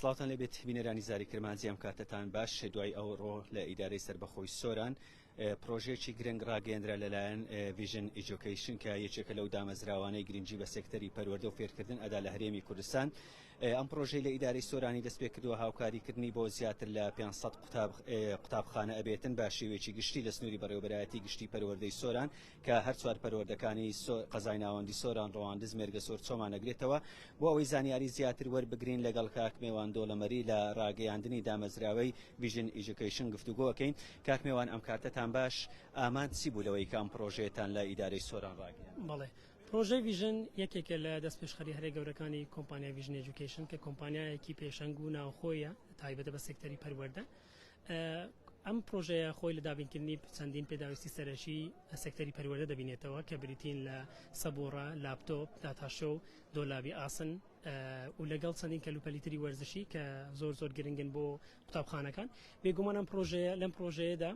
سڵاوتان لەبێت بینەرانی زاری کرمانجی ئەم کاتتان باش دوای ئەو ڕۆ لە ئیدارەی سربەخۆی سۆران پرۆژێکی گرنگ ڕاگەندرا لەلایەن ڤژن ئیجوکیشن کە یەکێکە لەو دامەزراوانەی گرنگجی بە سێکتەری پەروەردە و فێرکردن ئەدا لە هەرێمی کوردستان ئەم پرۆژەی لە ئیدارەی سۆرانی دەست پێ کردووە هاوکاریکردنی بۆ زیاتر لە 500 قوتابخانە ئەبێتن بە شێوێکی گشتی لە سنووری بەڕێوبەرایەتی گشتی پەروەردەی سۆران کە هەر چوار پەروەردەکانی سۆ، قەزای ناوەندی سۆران، ڕواندز، مێرگەسۆر، چۆمان ئەگرێتەوە. بۆ ئەوەی زانیاری زیاتر وەربگرین لەگەڵ کاک مێوان دۆڵەمەری لە ڕاگەیاندنی دامەزراوەی Vision Education گفتوگۆ ئەکەین. کاک مێوان ئەم کاتەتان باش، ئامانج چی بوو لەوەی کە ئەم پڕۆژەیەتان لە ئیدارەی سۆران ڕاگەیاند؟ بەڵێ. پڕۆژەی Vision یەکێکە لە دەستپێشخەریە هەرە گەورەکانی کۆمپانیای Vision Education کە کۆمپانیایەکی پێشەنگ و ناوخۆیە تایبەتە بە سێکتەری پەروەردە. ئەم پرۆژەیە خۆی لە دابینکردنی چەندین پێداویستی سەرەکی سێکتەری پەروەردە دەبینێتەوە کە بریتین لە سەبوڕە لاپتۆپ داتاشۆ و دۆلابی ئاسن و لەگەڵ چەندین کەلوپەلیتری وەرزشی کە زۆر زۆر گرنگن بۆ قوتابخانەکان بێگومان ئەم پرۆژەیە لەم پرۆژەیەدا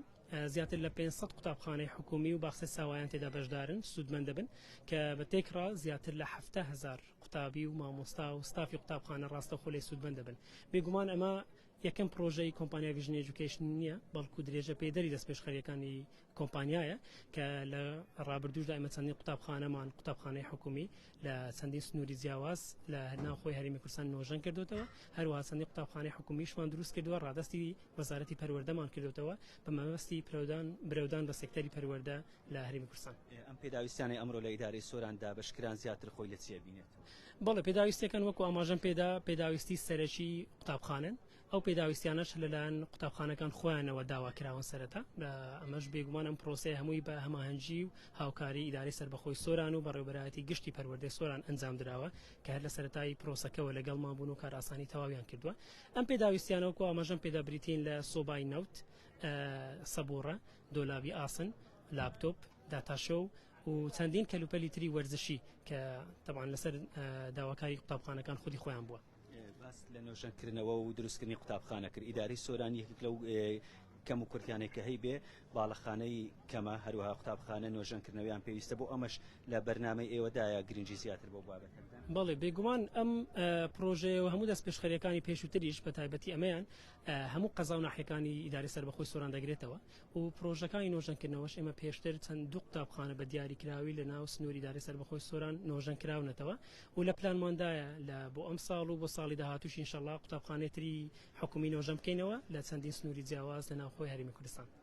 زیاتر لە 500 قوتابخانەی حکومی و باخسە ساوایان تێدا بەشدارن سوودمەند دەبن کە بە تێکڕا زیاتر لە هزار قوتابی و مامۆستا و ستافی قوتابخانە ڕاستەخۆ لێ سوودمەند دەبن بێگومان ئەمە یەکەم پڕۆژەی کۆمپانیا ڤیژن ئێجوکەیشن نییە، بەڵکو درێژەپێدەری دەستپێشخەرییەکانی کۆمپانیایە کە لە ڕابردووشدا ئێمە چەندین قوتابخانەمان قوتابخانەی حکومی لە چەندین سنووری جیاواز لە ناوخۆی هەرێمی کوردستان نۆژەن کردوتەوە، هەروەها چەندین قوتابخانەی حکومیشمان دروست کردووە، ڕادەستی وەزارەتی پەروەردەمان کردوتەوە بە مەبەستی پرەودان برەودان بە سێکتەری پەروەردە. لە هەرێمی کوردستان. ئەم پێداویستیانەی ئەمڕۆ لە ئیدارەی سۆران دابەش کران زیاتر خۆی لە چی ئەبینێت؟ بەڵێ پێداویستەکان وەکو ئاماژەم پێدا پێداویستی سەرەکی قوتابخانەن ئەو پێداویستیانەش لەلایەن قوتابخانەکان خۆیانەوە داوا کراون سەرەتا ئەمەش بێگومانم پرۆسی هەمووی بە هەماهەنگی و هاوکاری ئیدارەی سربەخۆی سۆران و بەڕێوبەرایەتی گشتی پەروەردەی سۆران ئەنجام دراوە کە هەر لە سەرەتایی پرۆسەکەەوە لەگەڵمان بوون و کارئاسانی تەواویان کردووە ئەم پێداویستیانەوەکو ئاماژەم پێدا بریتین لە سۆبای نەوت و سەبووڕە، دۆلابی ئاسن، لاپتۆپ، داتاشۆو و چەندین کەلوپەلی تری وەرزشی کە تەبعەن لەسەر داواکاری قوتابخانەکان خودی خۆیان بووە. باس لە نۆژەنکردنەوە و دروستکردنی قوتابخانە کرد ئیدارەی سۆران یەکێک لەو کەم و کورتیانەی کە هەیبێ باڵەخانەی کەمە هەروەها قوتابخانە نۆژەنکردنەوەیان پێویستە بۆ ئەمەش لە بەرنمەی ئێوەدایە گرنگی زیاتر بۆ بابەت بەڵێ بێگومان ئەم پرۆژەیە و هەموو دەست پێشخەرەکانی پێشووتریش بە تایبەتی ئەمەیان هەموو قەزا و ناحیەکانی ئیدارەی سەربەخۆی سۆران دەگرێتەوە و پرۆژەکانی نۆژەنکردنەوەش ئێمە پێشتر چەند دوو قوتابخانە بە دیاریکراوی لە ناو سنووری دارەی سەربەخۆی سۆران نۆژەن کراونەتەوە و لە پلانماندایە لە بۆ ئەم ساڵ و بۆ ساڵی داهاتوش ئینشەڵا قوتابخانەی تری حکومی نۆژەن بکەینەوە لە چەندین سنووری جیاواز لە ناوخۆی هەرێمی کوردستان.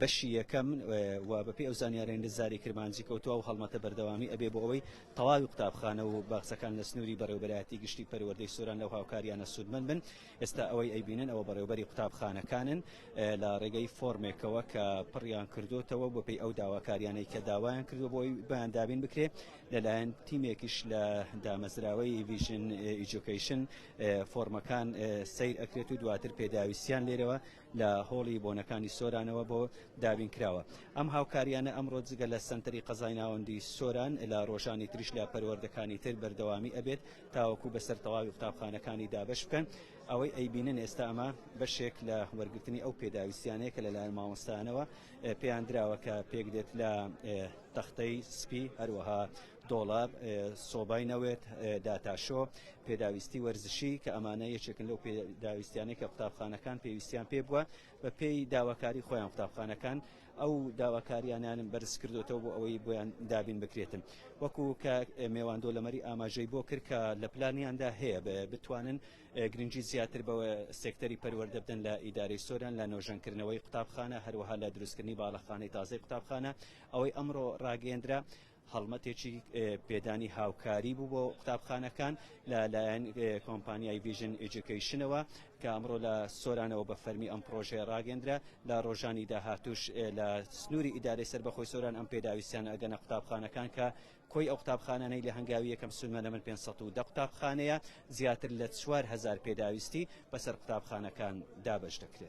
بەشی یەکەم و بەپێی ئەو زانیارەی نزاری کرمانجی کەوتوە و هەڵمەتە بەردەوامی ئەبێ بۆ ئەوەی تەواوی قوتابخانە و باخچەکان لە سنووری بەڕێوبەرایەتی گشتی پەروەردەی سۆران لەو هاوکاریانە سوودمەند بن ئێستا ئەوەی ئەیبینن ئەوە بەڕێوبەری قوتابخانەکانن لە ڕێگەی فۆرمێکەوە کە پڕیان کردوتەوە بۆ پێی ئەو داواکاریانەی کە داوایان کردو بۆی بەیان دابین بکرێ لەلایەن تیمێکیش لە دامەزراوەی ویژن ئیجوکیشن فۆرمەکان سیر ئەکرێت و دواتر پێداویستیان لێرەوە لە هۆڵی بۆنەکانی سۆرانەوە بۆ دابین کراوە. ئەم هاوکارییانە ئەمڕۆ جگە لە سەنتەری قەزای ناوەندی سۆران، لە رۆژانی تریش لە پەروەردەکانی تر بەردەوامی ئەبێت تاوەکو بەسەر تەواوی قوتابخانەکانی دابەش بکەن. ئەوەی ئەیبینن ئێستا ئەمە بەشێک لە وەرگرتنی ئەو پێداویستیانەیە کە لەلایەن مامۆستایانەوە پێیان دراوە کە پێکدێت لە تەختەی سپی هەروەها دۆڵاب، سۆبای نەوێت، داتاشۆ، پێداویستی وەرزشی کە ئەمانە یەکێکن لەو پێداویستیانەی کە قوتابخانەکان پێویستیان پێ بووە بە پێی داواکاری خۆیان قوتابخانەکان ئەو داواکاریانیان بەرز کردوێتەوە بۆ ئەوەی بۆیان دابین بکرێتن وەکو کە مێوان دۆلەمەری ئاماژەی بۆ کرد کە لە پلانیاندا هەیە بتوانن گرنگی زیاتر بەوە سێکتەری پەروەردە بدەن لە ئیدارەی سۆران لە نۆژەنکردنەوەی قوتابخانە هەروەها لە دروستکردنی باڵەخانەی تازەی قوتابخانە ئەوەی ئەمڕۆ ڕاگەیەندرا هەڵمەتێکی پێدانی هاوکاری بوو بۆ قوتابخانەکان لە لایەن کۆمپانیای ڤیژن ئیجوکەیشنەوە کە ئەمڕۆ لە سۆرانەوە بە فەرمی ئەم پڕۆژەیە ڕاگەندرا لە ڕۆژانی داهاتوش لە سنووری ئیدارەی سەربەخۆی سۆران ئەم پێداویستیانە ئەگەنە قوتابخانەکان کە کۆی ئەو قوتابخانانەی لە هەنگاوی یەکەم سنوورە من پێنج سەد و دە قوتابخانەیە زیاتر لە چوار هەزار پێداویستی بەسەر قوتابخانەکان دابەش دەکرێت.